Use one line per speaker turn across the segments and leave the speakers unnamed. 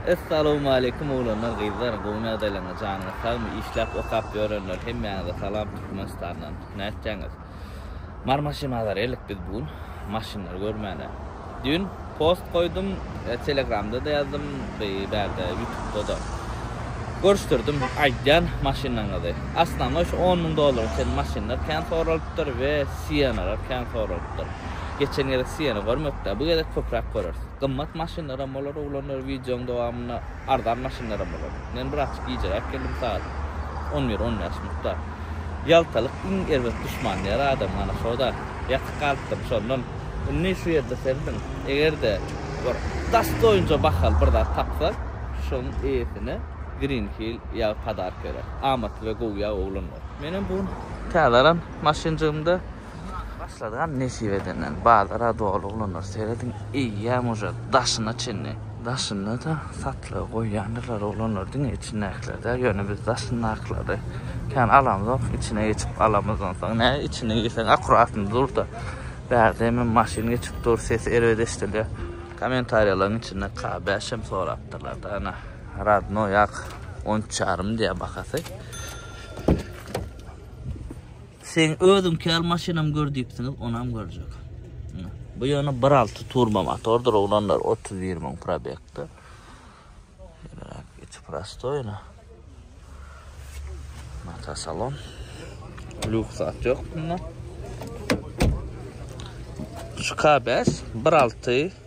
Essalowmaleýkum oglanlar gyzlar gowy ýagdaýlaryňyz janyňyz sagmy işläp okap ýörenler hemmäňize salam Türkmenistandan nätjäňiz Mar maşyna zarýalyk biz bu gün maşynlary görmäne düýn post goýdum telegramda-da ýazdym bu bärde ýutubda-da görüşdirdim aýdýan maşynlaryňyzy asnamoý şu on müň dollara çenli maşynlar kän soralypdyr we siýenalar kän soralypdyr geçen gezek siýena görmedikdä bu gezek köpräk göreris. Gymmat maşynlaram bolar oglanlar wideoň dowamynda arzan maşynlaram bolar. Men bir açyk gijeräk geldim sagat on bir on bäş mutda. Ýaltalyk iň erbet duşman diýer adam mana şoda ýatyp galypdym şondan. Indi şu ýerde serediň egerde bir dastoýince bahaly bir zat tapsak şoň eýesine green hill ýagy padark berer. Amatly we gowy ýag oglanlar. Menem bu gün täze alan maşynjygymda. Başladygan nesip edenden bazara doly ulanlar serediň eýýäm uje daşyna çenli. Daşynda da satlyga goýýandyrlar ulanlar diňe içindäkiler däl ýöne biz daşyndakylary kän alamzok içine geçip alamyz onsoň nä içine girseň akuratny durda bärde hemem maşyn geçip dur sesi erbet eşdilýär. Komentariýalaryň içinde K bäş hem sorapdyrlarda ana radnoý ak on üç ýarym diýýär bahasy. Seň özüň kel maşynam gör diýipsiňiz onam görjek. Bu ýöne 1.6 turbo motordyr oglanlar 31 müň probegde. Geçip prostoýna. Mata salon. Lüks at ýok bunda. Şu K5 1.6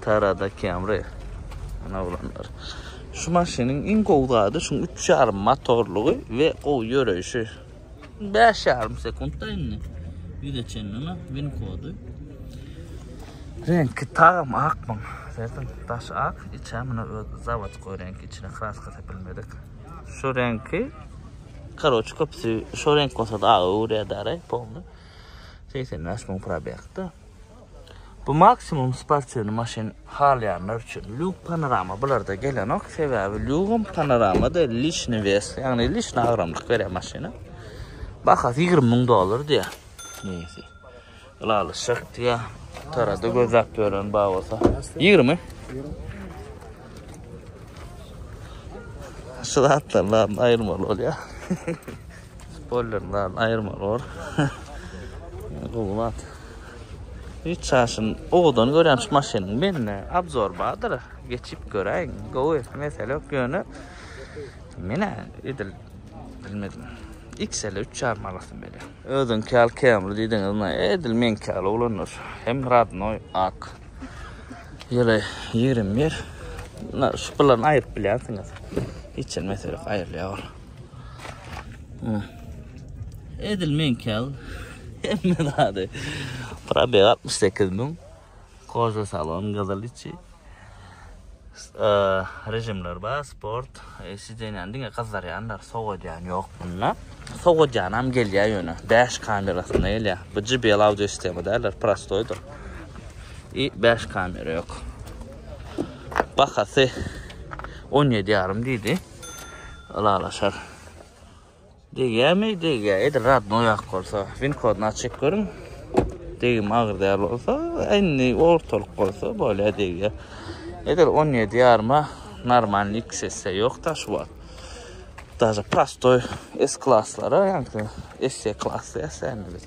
Tarada Camry. Ana olanlar. Şu maşynyň iň gowy zady şu 3,5 motorlygy we gowy ýöreýşi. 5,5 sekundda indi. Ýüze çenli win kody. Reňki tagam ak bu. Sertin daş ak, içe muna öz zawat reňki içine kraska sepilmedik. Şu reňki Karoç köpsi şu renk bolsa da ağı uğraya dara polnu. Seysen naş mung prabiyakta. Bu maksimum sportywny maşyn halaýanlar üçin. Lug panorama bularda gelenok, sebäbi lugum panoramada lişni wes, ýagny lişni agramlyk berýär maşyna. Bahasy 20 müň dollar diýär. Neyse. Ylalyşak diýär. Tarada gözläp gören bar bolsa. 20. Şu zatlardan aýyrmaly bolýar. Spoiler zat aýyrmaly bor. Gowy zat. Hiç çaşyn owadan görýän şu maşynyň mende abzor bardyr. Geçip göräýiň. Gowy mesele ýok ýöne menä edil bilmedim. XL 3.5 manatdan beri. Özüňki ýaly Camry diýdiňiz, na edil meňki ýaly oglanlar. Hem radnoý ak. Ýyly 21. Na şu pullarny aýyryp bilýänsiňiz. Hiç mesele ýok, aýrylýar. Edil men kel. Hemme zady. Probeg 68 mün. Koza salon gyzyl içi. Rejimler bar, sport. E, Sidenýan diňe gyzarýanlar, sowadýan ýok bunda. Sowadýanam gelýär ýöne. Dash kamerasynda gelýär. Bu JBL audio sistema däller, prostoýdyr. I 5 kamera ýok. Bahasy 17 ýarym diýdi. Ylalaşar. Degýärmi? Degýär. Edil radnoý ak bolsa. Win kodyny açyp görüň. Degim agyr däl bolsa, indi ortalyk bolsa bolýar degýär. Edil 17 ýaryma normalny iks esse ýok da şu wagt. Daže prostoy S klaslara, ýa-da S klasy ýa-da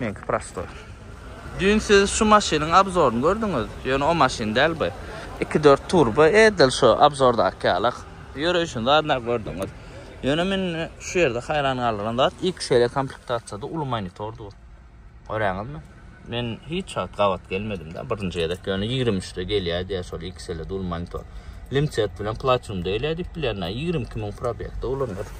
Meňki prostoý. Düýn siz şu maşynyň abzoryny gördüňiz, ýöne o maşyn däl bu. Iki dört turbo edil şu abzordaky ýalak. Ýöreýşini zadynda gördüňiz. Ýöne meni şu ýerde haýran galdyran zat XL komplektasiýada uly monitor dur. Göräňizmi? Men hiç wagt gabat gelmedim-de, birinji gezek. Ýöne ýigrimi üçde gelýär diýýär şol XL-de uly monitor. Limset bilen Platinum-da gelýär diýip bilýän-ä. Ýigrimi iki müň probegde ulanyr.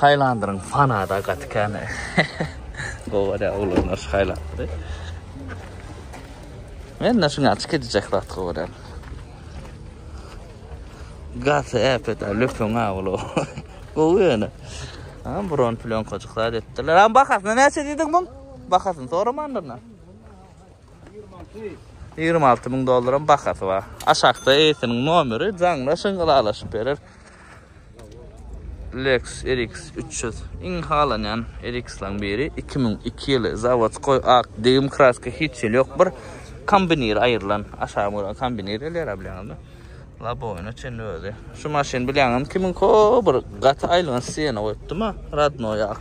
Highlander-iň fanada gaty kän. Gowa-da oglanlar şu Highlander-y. Men-de şuny açyp gidijek zat gowa däl. Gaty äpet-ä, löpeň-ä ol. Gowy ýöne. Ha, buron plýonkajyk zat etdiler. Ha, bahasyna näçe diýdiň muň? Bahasyny soramandyr-na. 26 müň dollaram bahasy bar. Aşakda eýesiniň nomeri, jaňlaşyň, ylalaşyp berer. Lexus RX 300 iň halanýan RX-laň biri. 2002 ýyly zawodskoý ak degim kraska hiç ýyl ýok. Bir kombinir aýrylan, aşagy görä kombinir gelýär bilýäňizmi? Laboýna çen özi. Şu maşyn bilýäňizmi kimin ko bir gaty aýylgan sena goýupdym ha, radnoý ak.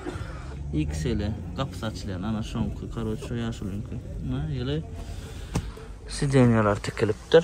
XL gapysy açylýan, ana şoňky, karoç şu ýaşulyňky. Na ýyly sidenýalar tikilipdir.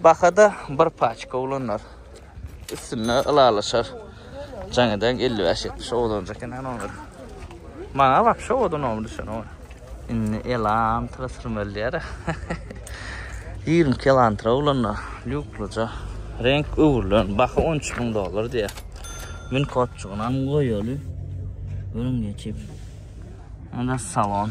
Bahada bir paçka olanlar üstünde ylalaşar. Jaň eden 55-70 odan çeken an olar. Maňa bak şu odun oldu düşen o. Indi elan tırtırmel diýär. 20 kilantra olanlar lükluca. Renk öwrülen. Baha 13 bin dolar diýär. Min kotçugyna goýaly. Görün geçip. Anda salon.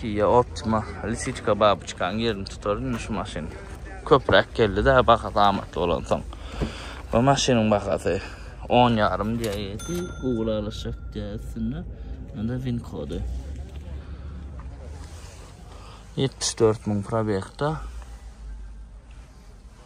Kia Optima lisiçka babuçkanyň ýerini tutar indi şu maşyn. Köpräk geldi-dä bahasy amatly bolansoň. Bu maşynyň bahasy on ýarym diýýärdi, ugur alyşjak diýýär üstünde. Onda win kody. Ýetmiş dört müň probegda.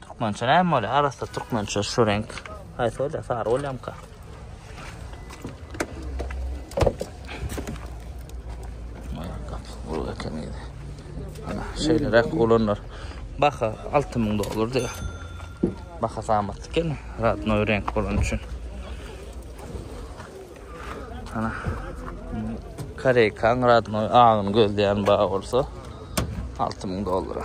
Türkmençe näme bolýar? Arassa türkmençe şu reňk. Haýsy bolýar? Sary bolýamka? Bol eken ýeri. Ana, şeýleräk olanlar. Baha 6000 dollar diýär. Baha samatly eken, radnoý reňk bolan üçin. Ana. Koreýkan radnoý agyny gözleýän bar bolsa 6000 dollara.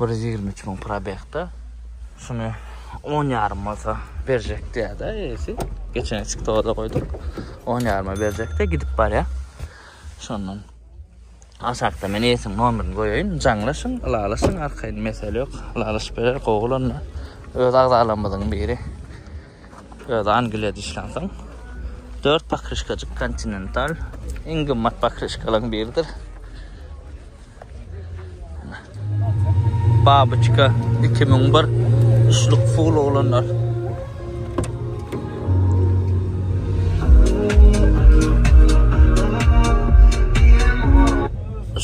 Bir ýüz ýigrimi üç müň probegda şuny on ýarym bolsa berjek diýýärdi eýesi. Geçen içki toga-da goýduk. On ýaryma berjekdi, gidip barýar. Şondan aşakda men eýesiniň nomerini goýaýyn, jaňlaşyň, ylalaşyň, arkaýyn mesele ýok, ylalaşyp berer, gowy bolanda öz agzalarymyzyň biri. Öz Angliýada işlänsoň, dört pokrişkajyk Continental iň gymmat pokrişkalaryň biridir. Babyçka, iki müň bir, üçlük full oglanlar.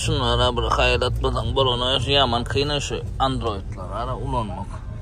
Şunlara bir haýyrat biziň bolana şu ýaman kyna şu androidler ara ulanmak.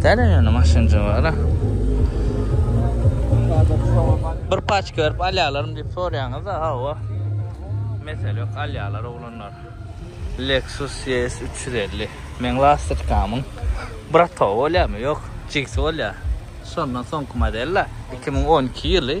Täne ýöne maşynja bar. Bir paç görüp alýarlarym diýip soraýaňyz da, hawa. Mesele ýok, alýarlar oglanlar. Lexus ES 350. Men lastikamyň bratowy bolýarmy? Ýok, jigsi bolýar. Şondan soňky model 2012 ýyly.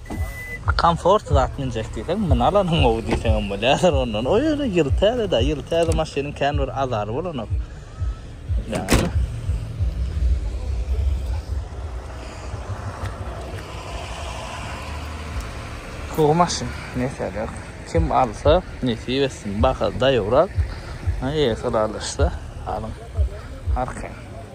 Komfort zat münjek diýseň, muny alanyň gowy diýseň hem bolýar. Ondan o ýöne ýyl täze-dä, ýyl täze maşynyň kän bir azary bolanok. Ýagny. Gowy maşyn, mesele ýok. Kim alsa, nesip etsin. Baha daýabrak, eýesi ralyşsa alyň. Arkaýyn.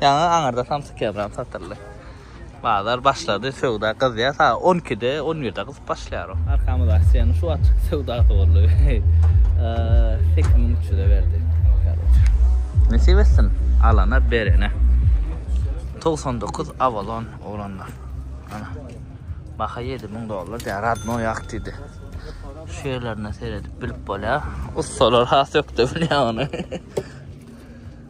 Ýaňy aňyrda samsyk ýabram satyldy. Bazar başlady, söwda gyzýar. Sa 12-de, 11-de gyzyp başlaýar o. Arkamyz aksiýany şu açyk söwdasy boldy. 8300-e berdi. Nesip etsin, alana berene. 99 Avalon oglanlar. Ana. Baha 7000 dollar diýär, radno ýak diýdi. Şu ýerlerine seredip bilip bolýar. Ussalar has ökde bilýär ony.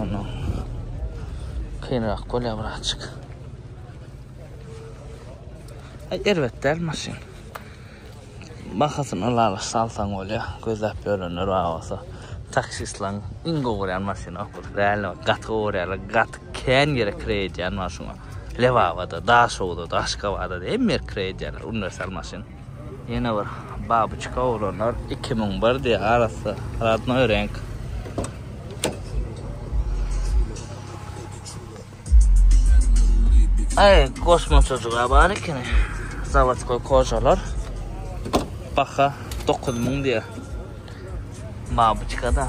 Ana. Kynrak bolýar birazjyk. Ay erbet däl maşyn. Bahasyny lala salsaň bolýar. Gözläp ýörenler bar bolsa. Taksistlaň iň gowy görýän maşyny okul. Real gaty gowy görýärler. Gaty kän ýere kire edýän maşyny. Lebabada, Daşowda, Daşkabada hemme ýer kire edýärler. Uniwersal maşyn. Ýene bir babuçka oglanlar iki müň bir diýýär arassa radnoý reňk. Aý, kosmosaja bar ekeni. Zawodskoý kojalar. Baha dokuz müň diýýär. Babuçka-da.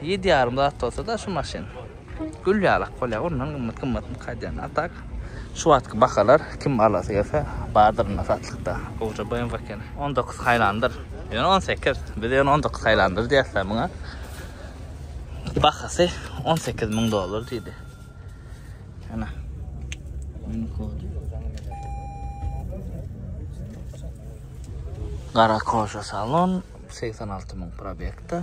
Ýedi ýarym zat bolsada şu maşyn. Gül ýalak bolýa ondan gymmat gymmat mk edýän a tak şu wagtky bahalar kim alasy gelse bardyr indi satlykda. Gowja BMW eken. On dokuz haýlandyr. Ýöne on sekiz. Biz ýöne on dokuz haýlandyr diýäsda muňa. Bahasy on sekiz müň dollar diýdi. Ana. Mini kody. Gara koşa salon. Segsen alty müň probekda.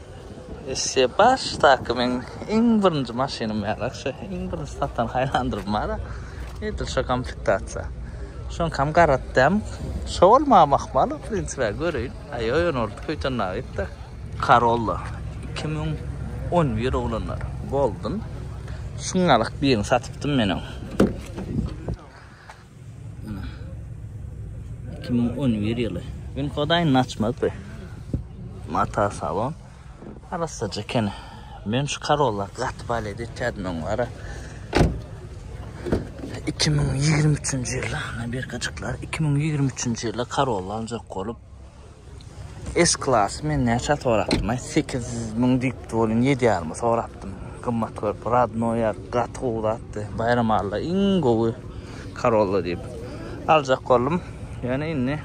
Esse başdaky meň iň birinji maşynym ýarak şu iň birinji satan haýlandyrym bara edil şu komplektasiýa. Şoňkam garatdam şo bolmagam ahmal o prinsipe göreýin. Aý ýöne ol köýten naýypda. Karolla iki müň on bir oglanlar golden şuňňalak birini satypdym men oň. 2011 ýyly. Gün kodaýyny açmady. Mata salon. Arassaja eken. Men şu karolla gaty balet etýärdim oň ara. 2023-nji ýylda, birkajyklar 2023-nji ýylda karolla aljak bolup S klasy men näçä sorapdym-aý? Sekiz müň diýipdi welin, ýedi ýaryma sorapdym. Gymmat görüp, radno ýar, gaty gowy zatdy. Baýram Alla iň gowy Corolla diýip, aljak boldum. Ýöne indi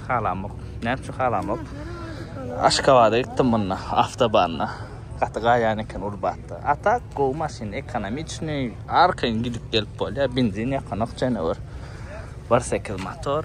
halamok. Näme üçin halamok? Aşgabada gitdim munda, awtobanda. Gaty gaýan eken Urbatda. A tak gowy maşyn, ekonomiçnyý, arkaýyn gidip gelip bolýar, benzin ýakanok jenewür. Bir sekiz motor.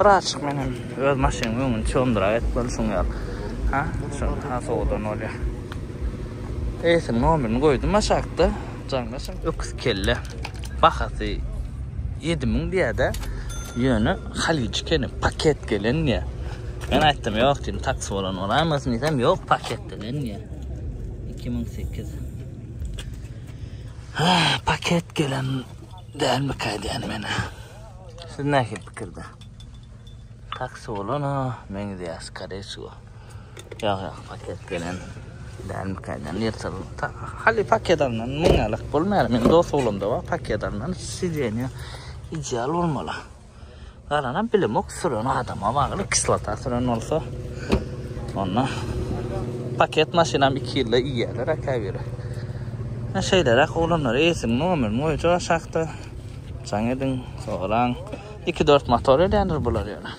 Bir açyk men hem öz maşynyň öňüni çondyrak et bol şuň ýaly. Ha, şo ha sowdan bolýa. Eýsin nomerini goýdum aşakda. Jaňlaşyň. Öküz kelle. Bahasy 7000 diýädä. Ýöne halyç kene paket gelen diýä. Men aýtdym, ýok diýdim, taksi bolan bolarmasyn diýsem, ýok paket gelen diýä. 2008. Ha, paket gelen dälmi käýdýän meni. Siz näki pikirde? Taksi bolan ha, men de askare şu. Ýa ýa paket gelen. Däl mi kaýdan ýertel. Hali paket alnan men alak bolmaýar. Men dost oglamda bar paket alnan sidenýa ideal bolmaly. Garana bilim ok süren adama bagly kislota süren bolsa. Onda paket maşynam 2 ýylda iýerler akabiri. Şeýleräk oglanlar eýsin, nomer, moýja şahta. Jaň ediň, soraň. Iki dört motor edýändir bular ýöne.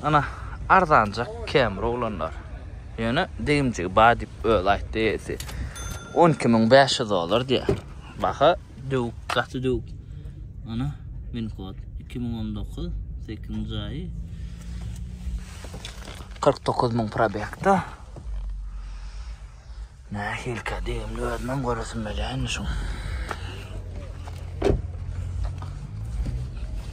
Ana, arzanjak Camry oglanlar. Ýöne degimjigi bar diýip özi aýtdy eýesi. On iki müň bäş ýüz dollar diýýär. Baha döwük, gaty döwük. Ana, min kod. Iki müň on dokuz, sekizinji aýy. Kyrk dokuz müň probekda. Nähilikä degimli özümem göresim gelýänmi şuň.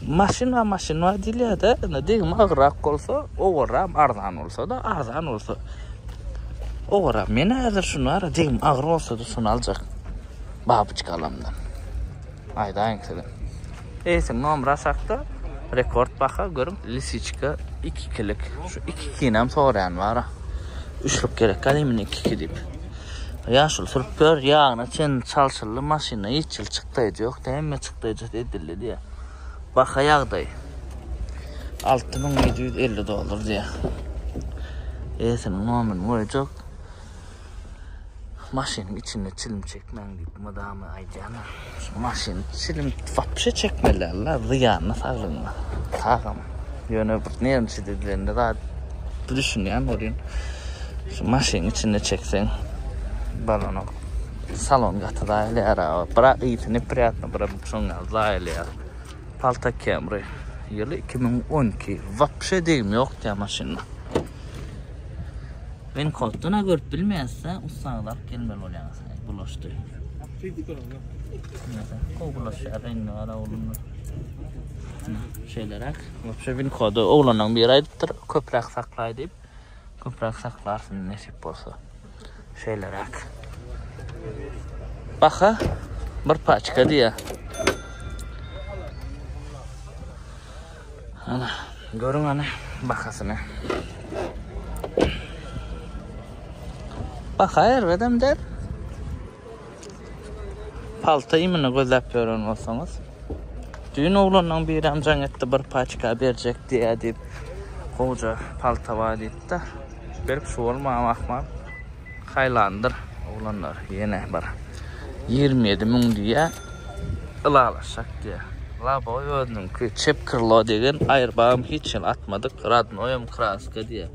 Maşyna maşyna diýilýär-de, indi degimi agrak bolsa, owaram arzan bolsa-da, arzan bolsa owaram. Men häzir şuny ara degim agyr bolsa-da şuny aljak. Babyçkalamdan. Aýdaýyň size. Eýsin nomer aşakda rekord baha görüň lisiçka iki ikilik şu iki ikinem soraýan bara üçlük gerek galymy iki iki diýip ýaşuly sürüp gör ýagyna çen çalşyldy maşynda hiç ýyl çykdaýjy ýokdy hemme çykdaýjysy edildi diýýär baha ýagdaý alty müň ýedi ýüz elli dollar diýýär eýsiniň nomerini goýjak Maşynyň içinde çilim çekmäň diýip mydama aýdýarlar. Şu maşyn çilim wapşe çekmelärler, zyýanly saglygyňa. Sagam. Ýöne bir nerwçi dizilende zat düşünýän bolýan. Şu maşynyň içinde çekseň balanok. Salon gaty zaýalýar aga. Bira ýiti nepriýatny, bira şoň ýaly zaýalýar. Palta Camry. Ýyly 2012. Wapşe degim ýok diýýär maşynda. Men koddan görüp bilmeýäsde ussaňyzy alyp gelmeli bolýaňyz. Bulaşdy. Kol bulaşýar reňine gara oglumlar. Şeýleräk. Wopşe win kody oglanyň biri aýdypdyr, köpräk saklaý diýip. Köpräk saklarsyn nesip bolsa. Şeýleräk. Baha bir paçka diýýär. Ana, görüň hany bahasyny. Baha erbedem däl. Palta iýmini gözläp ýören bolsaňyz, düýn oglanlaryň birem jaň etdi, bir paçka berjek diýýär diýip, gowja palta bar diýip-de, berip şu bolmam ahmal. Haýlandyr oglanlar ýene bir ýigrimi ýedi müň diýýä ylalaşjak diýýä. Laboý özüniňki çep krlo degen aýrbagym hiç hili atmadyk radnoýam kraska diýýä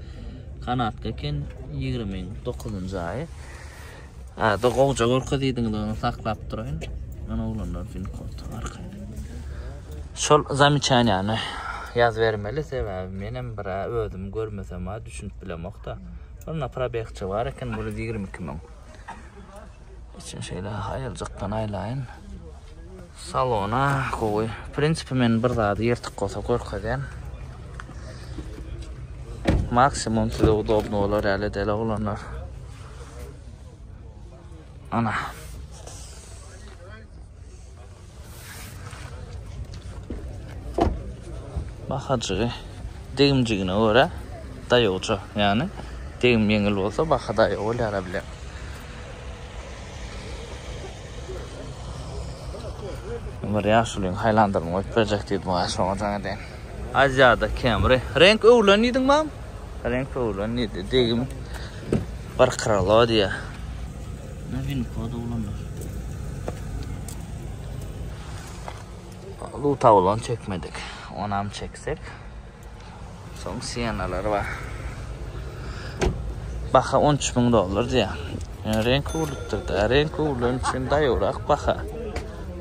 kanatga eken ýigrimi dokuzynjy aýy ada gowja görkezidiňiz ony saklap duraýyn men oglanlar üçin kod arkaýyn şol zamiçaniýany ýazybermeli sebäbi menem bir özüm görmesem a düşünip bilemokda. Şonda probegçi bar eken bir ýüz ýigrimi iki müň. Içini şeýle aýyrjakdan aýlaýyn. Salona gowy. W prinsipi men bir zady ýyrtyk bolsa görkezýän. Maksimum size udobny bolar ýaly deli oglanlar. Ana. Bahajygy degimjigine görä daýawja, ýagny degim ýeňil bolsa baha daýaw bolýara bile. Bir ýaşulyň haýlandyryny goýup berjek diýdim aga şoňa jaň edeýin. Aziýada Camry. Reňk öwrülen diýdiň mam? Reňk öwren diýdi. Degim bir kralo diýýär. Ne win kod oglanlar. Lu tawlan çekmedik. Onam çeksek. Soň siyenalar bar. Baha 13 ming dollar diýýär. Yani renk öwrülipdir da. Renk öwrülen üçin daýawrak baha.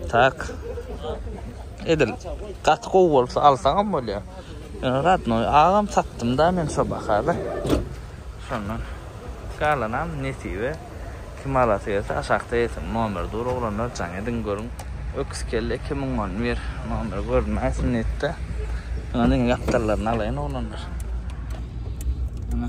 Tak. Edil gaty gowy bolsa alsaňam bolýar. Radnoý agam tapdymda men şo bahada. Şondan galanam nesibe. Kim alasy gelse aşakda ýesin. Nomer dur oglanlar jaň ediň görüň. Öküz kelle iki müňňany ber. Nomer görünmäýsin netde. Şuňa diňe gapdallaryny alaýyn oglanlar. Ana.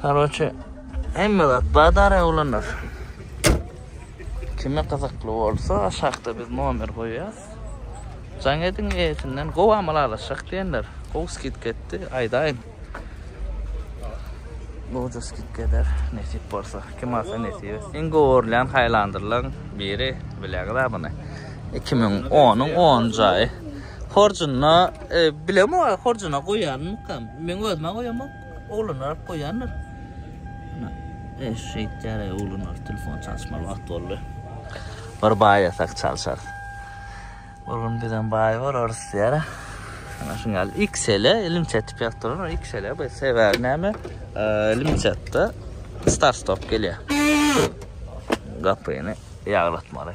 Karoçe, hemme zat badara ulanar. Kime gyzykly bolsa, aşakda biz nomer goýýas. Jaň ediň eýesinden gowy amal alyşak diýenler. Gowy skidka etdi, aýdaýyn. Gowja skidka eder, nesip bolsa. Kim alsa nesip etsin. Iň gowy görlen haýlandyrlaň biri bileňiz abyny. 2010-yň 10 jaýy. Horjuna e, bilemo horjuna goýarmykam. Men özüme goýamok. Oglan alyp goýandyr. Ana, eş şeýtýär, oglan alyp telefon çalyşmaly wagt boldy. Bir baý ýasak çalyşar. Bir gün bizem baý bolarys diýär. Ana şuň ýaly XL-e ilim çetip ýatdylar. XL-e bu sebäbi näme? Ilim çetdi. Start stop gelýär. Gapyny ýaglatmaly.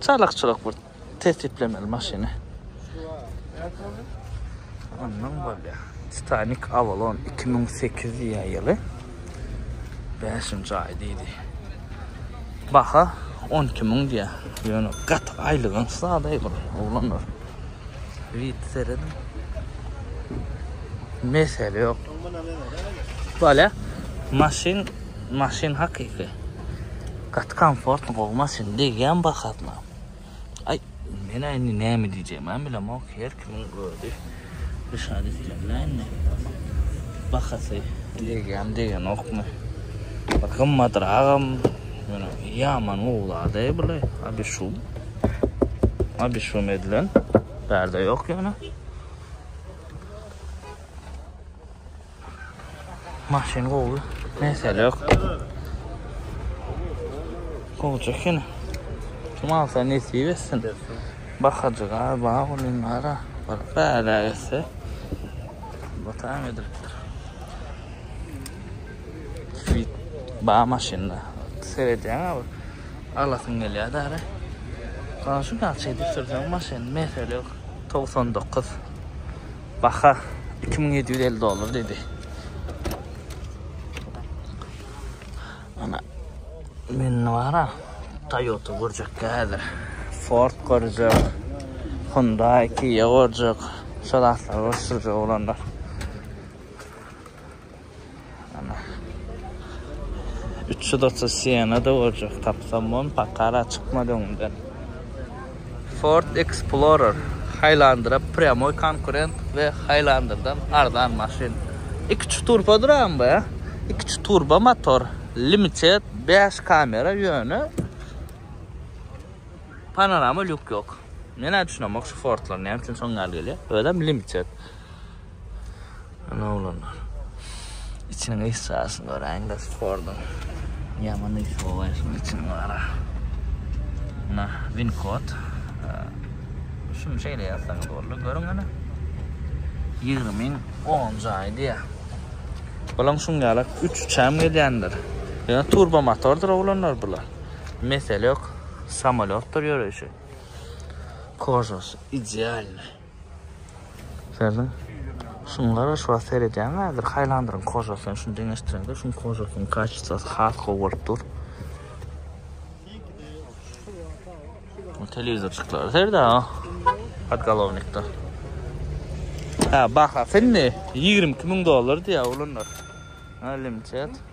Çalykçylyk bir tesiplemeli maşyny. Ondan bolýa. Titanic Avalon 2008 diýýä ýyly. 5-nji aý diýdi. Baha 12 müň diýýä. Ýöne gat aýlygyň sadaý bir oglanlar. Rit seredin. Mesele ýok. Bolýa. Maşyn Maşyn hakyky gaty komfortny gowy maşyn degýän bahasyna. Aý men indi näme diýjegimi hem bilemok her kimiň özi düşan islenýä indi bahasy degýämi degenokmy bir gymmatragam ýöne ýaman gowy zat eý bule abişum abişum edilen bärde ýok ýöne. Maşyn gowy, mesele ýok. Gowja ekeni. Kim alsa nesip etsin. Bakajyga bar bolýanlara bir bäla etse. Bu tam edilipdir. Fit ba maşynda. Seredýän abi. Alasyn gelýär däre. Gaşy gaç edip sürsen maşyn mesele ýok. 99. Baha iki müň ýedi ýüz elli dollar diýdi. Ana men wara Toyota görjek häzir. Ford görjek. Hyundai, Kia görjek. Şol atlar görjek oglanlar. Ana. 330 Siena da bolacak. Tapsam on pakara çıkmadı öňden. Ford Explorer. Highlander'a pryamoy konkurent ve Highlander'dan arzan maşin. 2 turbo duran bu ya. 2 turbo motor. Limited 5 kamera yönü. Panorama lük yok. Men düşünemok şu Ford'lar ne için son gel geliyor. Özüm limited. Ana oglanlar. İçiniň eşyasını göräýiň de spordyň. Ýaman eşi bolýar şunuň üçin bara. Mına win kod. Şuny şeýle ýazsaňyz boldy. Görüň ana. 20 min 10 jaýy diýýär. Bulaň şuň ýaly 3 uçam gelýändir. Ýa turbo motordyr oglanlar bular. Mesele ýok. Samolyotdyr ýöreýşi. Kožos idealny. Serdiň. Şun gara şu wagt seredýän häzir haýlandyryň kožasyny şun deňeşdireňde şun kožasynyň kaçistosy has gowy bolup dur. Bu telewizorçyklar serde ha. Podgolovnikda. Ha baha finni 22 ming dollar diýä olanlar. Ha limçet.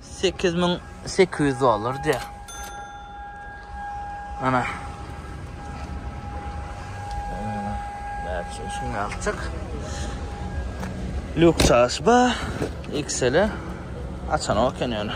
Sekiz müň sekiz ýüz dollar diýýär. Ana. Näçe şuňa akçak. Lük çaşba XL-e açan oken ýöne.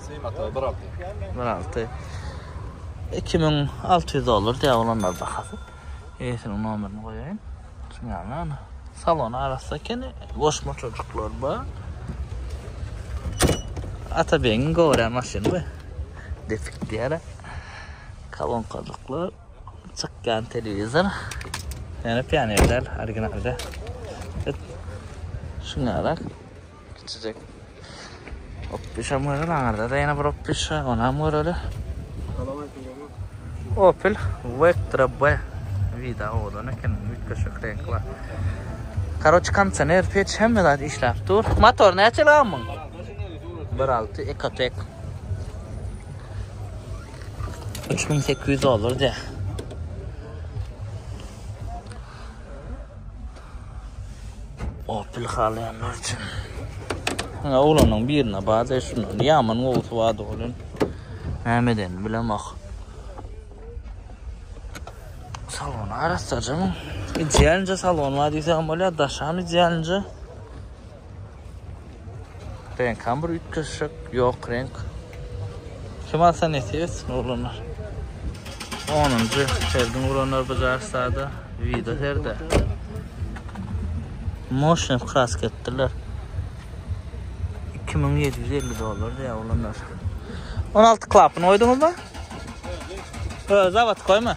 Syýmata
bir alty. Bir alty. Iki müň
alty ýüz dollar diýär olanlar bahasy. Eýesiniň nomerini goýaýyn. Şu ýaly ana. Salon arassa ekeni. Goşma çocuklar bar. Atabegiň göwrä maşyny bu. Depik diýär. Kalonkajyklar. Çykýan telewizor. Ýöne pionerler originalda. Şuňarak. Kiçijek. Opişam göreli aňyrda-da ýene bir opişa, onam göreli. Opel Vectra B wida owadan eken, üýtgeşik reňki bar. Karoç kondisioner, peç hemme zat işläp dur. Motor näçe lan muň? 1.6 Ecotec. 3800 dollar diýär. Opel halayanlar için. Ýa oglanyň birine bada şundan ýaman gowusy bada bolan. Näme eden bilemak. Salon arassaja mı? Idealnja salon var diýsem bolýar, daşam idealnja. Reňkam bir üýtgeşik, ýok reňk. Kim alsa nesip etsin oglanlar. 10-njy sergin guranlar bu jarsada video serde. Moşnew krask etdiler. 2750 dollar diýär oglanlar. 16 klapyny goýduňyzmy? Ö, zawod goýma.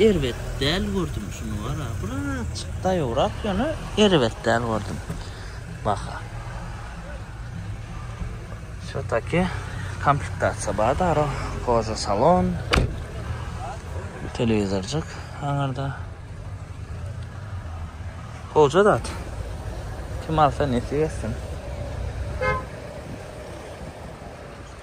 Erbet däl gördüm şuny wara birazjyk daýowrak ýöne erbet däl gördüm baha. Şo taki komplektasiýa bar daro koza salon telewizorjyk aňarda. Goja zat. Kim alsa nesip etsin.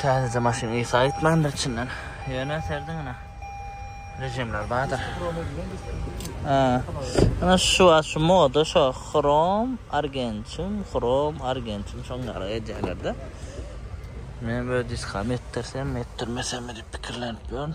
Täzeje maşyn ysy aýtmandyr içinden. Ýöne serdi ýene. Rejimler bardyr. Ana şu wagt şu moda şu hrom argentum, hrom argentum şoň ýaly edýärler-de. Men bu diskam etdirsem etdirmesem diýip pikirlenip ýörün.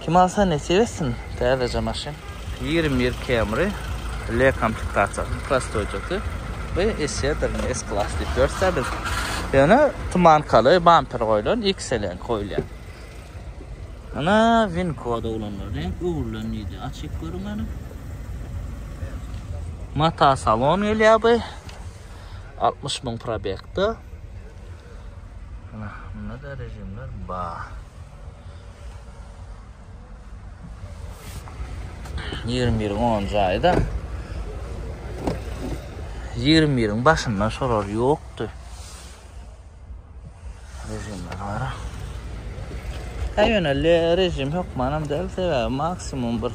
Kim alsa nesip etsin täzeje maşyn. Ýigrimi bir Camry ile komplektasiýasyny prostoýjasy we essedaryny S klass diýip ýörüsä biz. Ýöne tumankaly bamper goýlan XL-iň goýulýar. Ana win koda ulanlar reňk öwrülen diýdi. Açyp görüň ýöne. Mata salon gelýär bu. 60 müň probekde. Ana, bunda da rejimler bar. Ýigrimi biriň onunjy aýda. Ýigrimi biriň başynda şolar ýokdy. Rejimler bara. Ýöne rejim hökmanam däl, sebäbi maksimum bir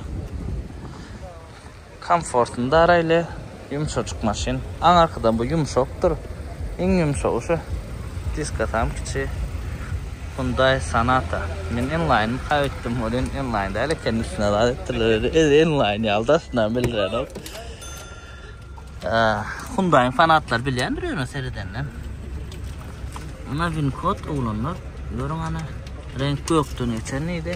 Komfortny daraýly, ýumşajyk maşyn. Aň arkadan bu ýumşakdyr. Iň ýumşagy şu. Diska tam kiçi. Hyundai Sonata. Men N-Line-y kaýyp etdim. Ol indi N-Line däl eken, üstüne zat etdirler özi. Özi N-Line ýalydy aslynda, bilrenok. Hyundai-yň fanatlar bilýändir ýöne seredenden. Ýöne Wincode oglanlar, görüň hany. Reňk gökden geçen diýdi.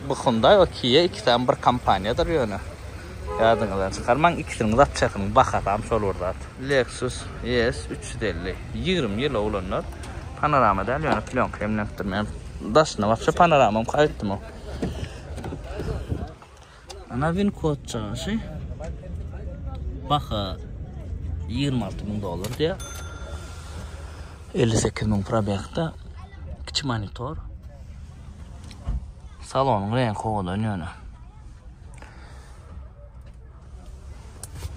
Bu Hyundai o Kia ikisem bir kompaniýadyr ýöne ýadyňyzdan çykarmaň ikisiniň zat çekiň bahasam şol bir zat. Lexus ES üç ýüz elli ýigrimi ýyl owlanar. Panorama däl ýöne plýonka emlenipdir meň daşyna wapşe panoramam gaýypdymok. Ana win kod çykyşy baha ýigrimi alty müň dollar diýýär. Elli sekiz müň probegda kiçi monitor. Salonyň reňki owadan ýöne.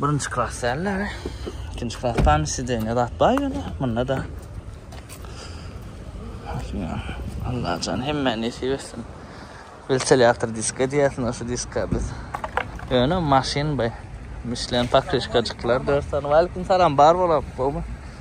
Birinji klas dälleri. Ikinji klas pan sideniýe zat bar ýöne. Munda da. Allah can hemme nesip etsin. Bilselýärdir diska diýersin, şu diska biz. Ýöne maşyn bu. Mişlen pakrişkajyklar dört sany. Waleýkum salam, bar bolam, gowmy?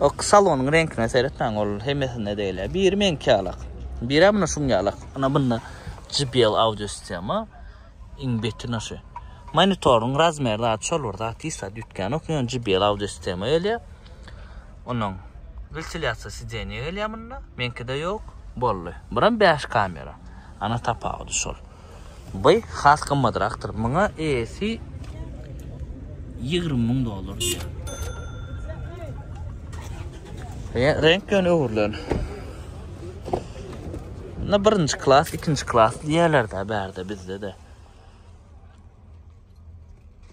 O salonyň reňkine seretmäň, ol hemmesinde degil. Biri meňki ýalak. Biri muny şuň ýalak. Ana bunda JBL audio sistema iň betin aşy. Monitoryň razmeri da çol bir zat hiç zat ýütgän ok. Ýöne JBL audio sistema gelýär. Onuň ventilýasiýa sidenýe gelýär munda. Meňkide ýok. Boldy. Buram 5 kamera. Ana tapawudy şol. By has gymmadrakdyr. Muňa eýesi 20 müň dollar diýýär. Ýa renk ýöne öwrülen. Bunda birinji klas, ikinji klas diýerler-de bärde bizde-de.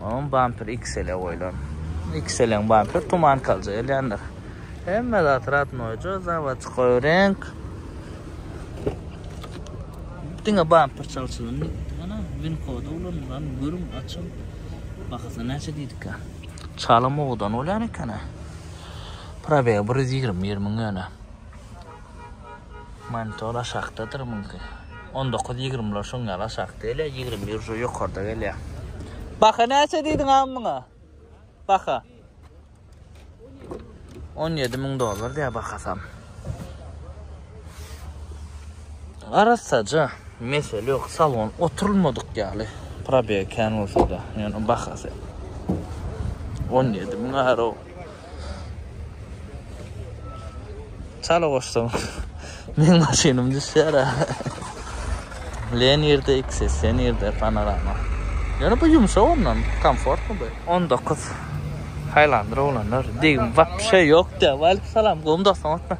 Onuň bamperi XL-e goýlan. XL-iň bamperi tuman kaljy gelýändir. Hemme zat radnoýja, zawodyka reňk. Diňe bamper çalşylan. Ana, win kody ulanylan. Görüň, açyň. Bahasy näçe diýdikka? Çalym owdan bolýan eken-ä. Probegi bir ýüz ýigrimi bir müň ýöne. Monitor aşakdadyr mümkin. 19-20ler şoň ýaly aşakda ele, 20 ýurja ýokarda gelýär. Baha näçe diýdiň am muňa? Baha. 17 müň dollar diýär bahasam. Arassaja, mesele ýok, salon oturulmadyk ýaly. Probeg kän bolsa da, ýöne bahasy 17 müň aro. Çala goşsam. Men maşynym düşýär. Len ýerde ikisi, sen ýerde panorama. Ýöne bu ýumşak ondan, komfortly bu. 19. Haýlandyr oglanlar. Degim wapşe ýokda. Waleýkim salam, gowmy dostum otma.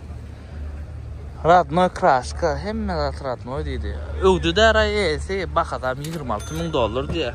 Radnoý kraska, hemme zat radnoý diýdi. Öwdüdä raýesi, bahasam 26 müň dollar diýýär.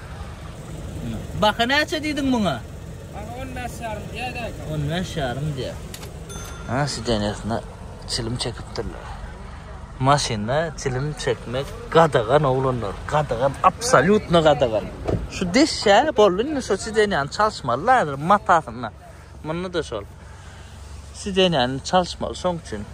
Baha näçe diýdiň muňa? Baha on bäş ýarym diýýär däki. On bäş ýarym diýýär. Ha, sidenýasyna çilim çekipdirler. Maşynda çilim çekmek gadagan oglanlar, gadagan, absolýutno gadagan. Şu deşýär, boldy indi şu sidenýany çalyşmalylar, matasyna. Munda-da şol. Sidenýäni çalyşmaly, şoň üçin.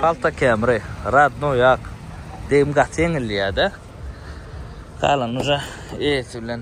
Palta kemri, radno ýak. Degim gaty ýeňilýär-de. Galan uja eýesi bilen.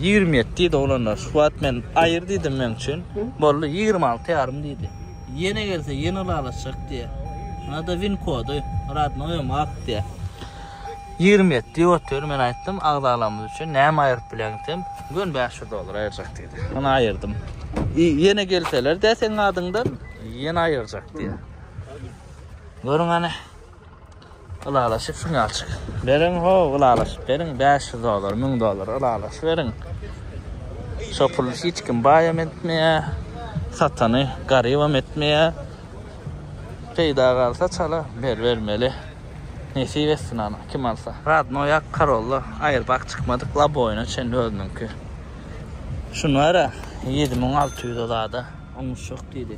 Ýigrimi ýet diýdi oglanlar. Şu wagt men aýyr diýdim meň üçin. Boldy, ýigrimi alty ýarym diýdi. Ýene gelse ýene ylalaşjak diýýä. Nada win kody, radnoýam ak diýýä. Ýigrimi ýet diýip otyr, men aýtdym, agzalamyz üçin näme aýryp bileň desem, göni bäş ýüz dollar aýyrjak diýdi. Ony aýyrdym. Ýene gelseler-dä seň adyňdan, ýene aýyrjak diýýä. Görüň hany. Ylalaşyp synalçyk. Beriň ho, ylalaşyp beriň 500 dollar, 1000 dollar ylalaşyp beriň. Şo puly hiç kim baýam etmeýä. Satany garybam etmeýä. Peýda galsa çala ber bermeli. Nesip etsin ana kim alsa. Radnoý ak karolla aýerbag çykmadyk laboýyna çenli özüniňki. Şuny ber-ä 7600 zada. Oňuşjak diýdi.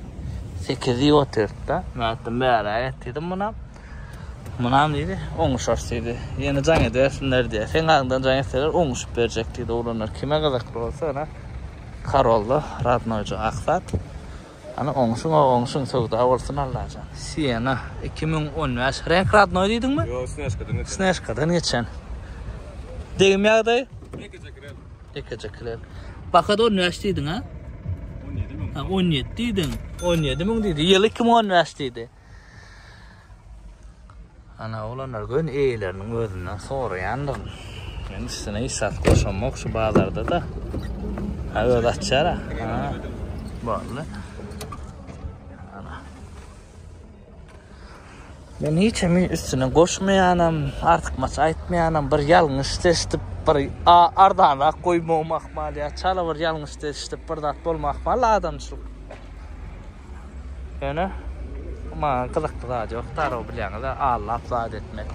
Sekiz diýip otyrdy-da. Men aýtdym, Bäräk et diýdim munam. Munam diýdi, Oňuşarys diýdi. Ýene jaň edersinler diýýär. Seň adyňdan jaň etseler, oňuşyp berjek diýdi oglanlar. Kime gyzykly bolsa, ýöne Karolda radnoýjy ak zat. Hany, oňuşyň-ow, oňuşyň, söwda bolsun Allajan. Siena, iki müň on bäş. Reňk radnoý diýdiňmi? Ýok,
snejkadan geçen. Snejkadan
geçen. Degim ýagdaýy? Jeke-jeke. Tekejekiler. Bakador näç diýdiň
ha? 17 müň. Ha 17
diýdiň. 17 müň diýdi. Ýyly 2015 diýdi. Ana olanlar gün eýeleriniň özünden soraýandyr. Men üstüne isat goşamok şu bazarda da. Ha öz açara. Ha. Boldy. Men hiç hemi üstüne goşmaýanam, artykmaç aýtmaýanam, bir ýalňyş seçdip, bir ardanrak goýmagym ahmal ýa çala bir ýalňyş seçdip bir zat bolma ahmal adamçylyk. Ýöne maňa gyzykly zat ýok, darag bilýäňiz-ä, allap zat etdim. Rahmet.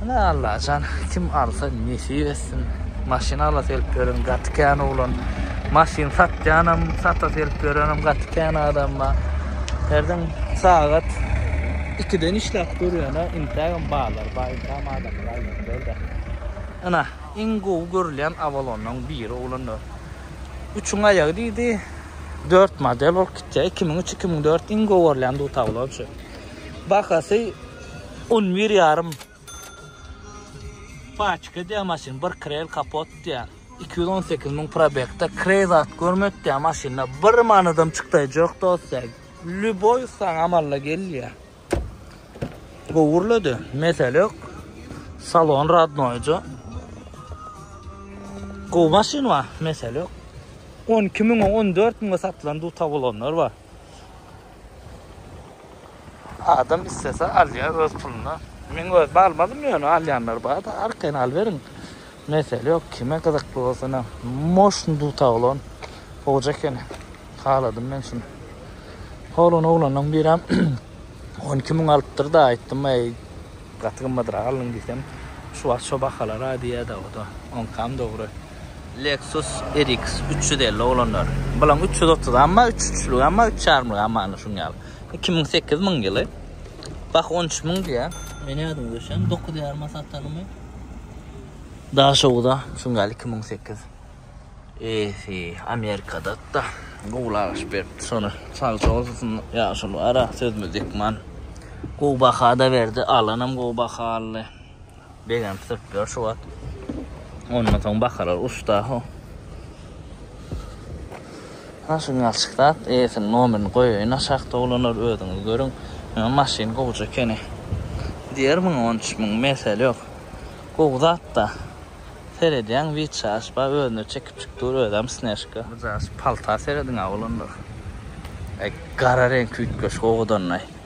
Ana Allajan kim alsa nesip etsin maşyn alasy gelip ýören gaty kän oglan maşyn satýanam satasy gelip ýörenem gaty kän adam bar herden sagat ikiden işläp görýäne intägem barlar bar intägem adamlar aýlanýarda ana iň gowy görülýän awalonlaň biri oglanlar üçüň aýagy diýdi dört model bolup gitýär iki müň üç iki müň dört iň gowy görülýän dutaw olor şu bahasy On bir ýarym paçka diýýär maşyn, bir kreýl kapot diýýär. Iki ýüz on sekiz müň probekde kreý zat görmedik diýýär maşynda. Bir manadam çykdaýjak dostlar. Lýuboý saňa amalla gelýär. Gowurlady, mesele ýok. Salon radnoýja. Gowy maşyn bar, mesele ýok. On iki müňe, on dört müňe satylan duta bolanlar bar. Adam islese alya öz puluna. Men özüm almadym ýöne alýanlar barda arkaýyn alyberiň mesele ýok kime gyzykly bolsana moşn dutaglan goja ekeni haladym men şuny oglan oglanlaň birem on iki müň alypdyrda aýtdym eý gaty gymmadrak aldyň diýsem şu wagt şo bahalara diýýäda oda onkam dogry. Lexus RX üç ýüz elli oglanlar. Bulaň üç ýüz otuz amma üç üçlük amma üç ýarymlyk amma ana şuň ýaly. Iki müň sekiz müň ýyly. Bak on üç müň diýär. Men ýadyň düşen dokuz ýaryma satanymy. Daşowda şuň ýaly iki müň sekiz. Eýsi Amerikada da gowlaş berip şony sag bolsun ýaşuly ara sözümiz dikman. Gowy baha da berdi alanam gowy baha aldy. Begenip sürtdüler şu wagt. Ondan soň bakarlar uçda ho. Naşy ňalçyk zat, eýesiniň nomerini goýaýyn aşakda oglanlar özüňiz görüň. Ýöne maşyn gowja ekeni. Diýer müň on üç müň mesele ýok. Gowy zatda. Seredýäň witçaş bar özüne çekipjik dur özem snežka. Buja şu palta serediňä oglanlar. Gara reňki üýtgeşik owadanyny.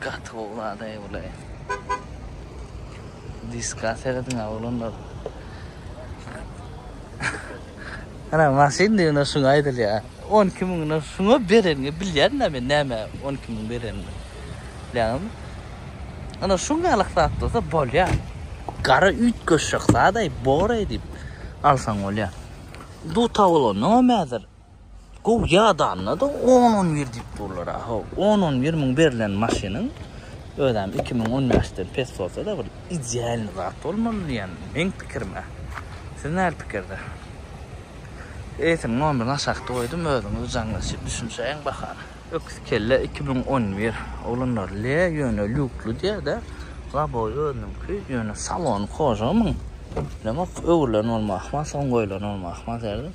Gaty gowy zadaý bulaý. Diska serediň oglanlar. Ana maşyn diýende şuňa aýdylýar. 12 müňden şuňa bereniňi bilýän-dä men näme 12 müň berenini. Bilýäňizmi? Ana şuňalyk zat bolsa bolýar. Gara üýtgeşik zadaý, boraý diýip alsaň bolýar. Duta bolandan hem häzir Gowy ýadanda-da on-on bir diýip durlar-a. Haw, on-on bir müň berlen maşynyň özem iki müň on bäşden pes bolsa-da bir idealnyý zat bolmaly diýen meň pikirim-ä. Siz näl pikirde? Eýsem nomerini aşakda goýdum, özüňiz jaňlaşyp düşünişäýiň bahana. Öküz kelle iki müň on bir, oglanlar, le, ýöne lýukly diýä-dä. Laboý özüniňki, ýöne salony kožamyň. Bilemok, öwrülen bolmagy ahmal, soň goýulany bolmagy ahmal derdim.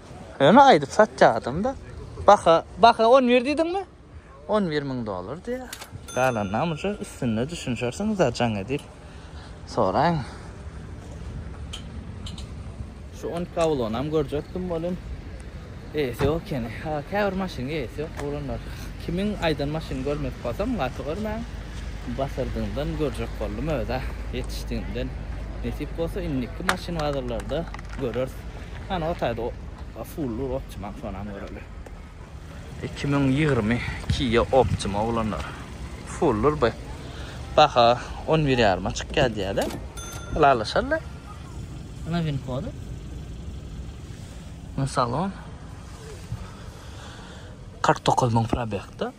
Öne aydyp satyadım da. Baka, baka 11 diýdiň mi? 11 min dolar diýär. Galan namyja üstünde düşünşersiň za jaň edil. Soraň. Şu 10 kavlon hem görjekdim bolun. Eýesi ýok ekeni. Ha, käbir maşyn eýesi ýok bolanlar. Kimiň aýdan maşyny görmek bolsam, gaty görmäň. Basyrdyňdan görjek boldum öde. Ýetişdiginden. Nesip bolsa indiki maşyn bazarlarda göreris. Ana o taýda o fullu optimal sonam göreli. 2020 Kia Optima oglanlar. Fullu bu. Baha 11 ýaryma çykýar diýýärler. Ylalaşarlar. Ana win kody. Salon. 49 müň probekda.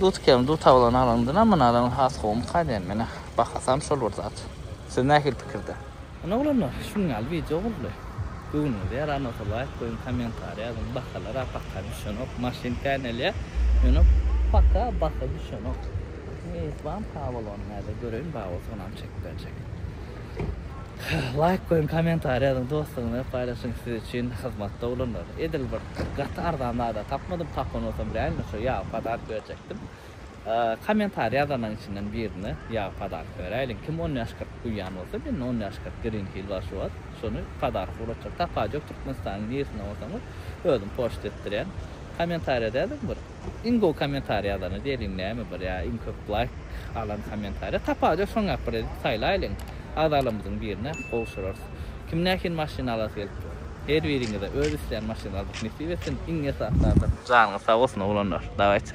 Dutkem dutaglan alandyna muna alan has gowmy kadiýan menä bahasam şol bir zat siz nähili pikirde. Ine oglanlar şunuň ýaly wideo boldy. Göwnüňize ýaran bolsa laýk goýuň kommentariýa ýazyň bahalara paka düşenok maşyn känelýä ýöne paka baha düşenok. Meýitwan sag bol ony nädip göreýin baý bolsa onam çekip berjek. Laýk goýuň komentariý ýazyň dostlar bilen paýlaşyň siz üçin hyzmatda bolanlar edil bir gaty arzan zada tapmadym tapan bolsam bileýnmi şo ýagy podark berjekdim komentariý ýazanlaň içinden birine ýagy podark beräýliň kim on ýaş kyrk guýýan bolsa mende on ýaş kyrk green hill bar şu wagt şony podarka ulatjak tapaýjak türkmenistanyň niresinde bolsaňyz özüm poçt etdirýän komentariýada ýazyň bir. Iň gowy kommentariý ýazany diýeliň näme bir ýa iň köp laýk alan kommentariý tapar ýok soň ýap bir edip saýlaýlyň agzalarymyzyň birine gowşurarys kim nähili maşyn alasy gelip dur her biriňize öz islän maşynyňyzy nesip etsin iň esasy adam janyňyz sag bolsun oglanlar dawayçy.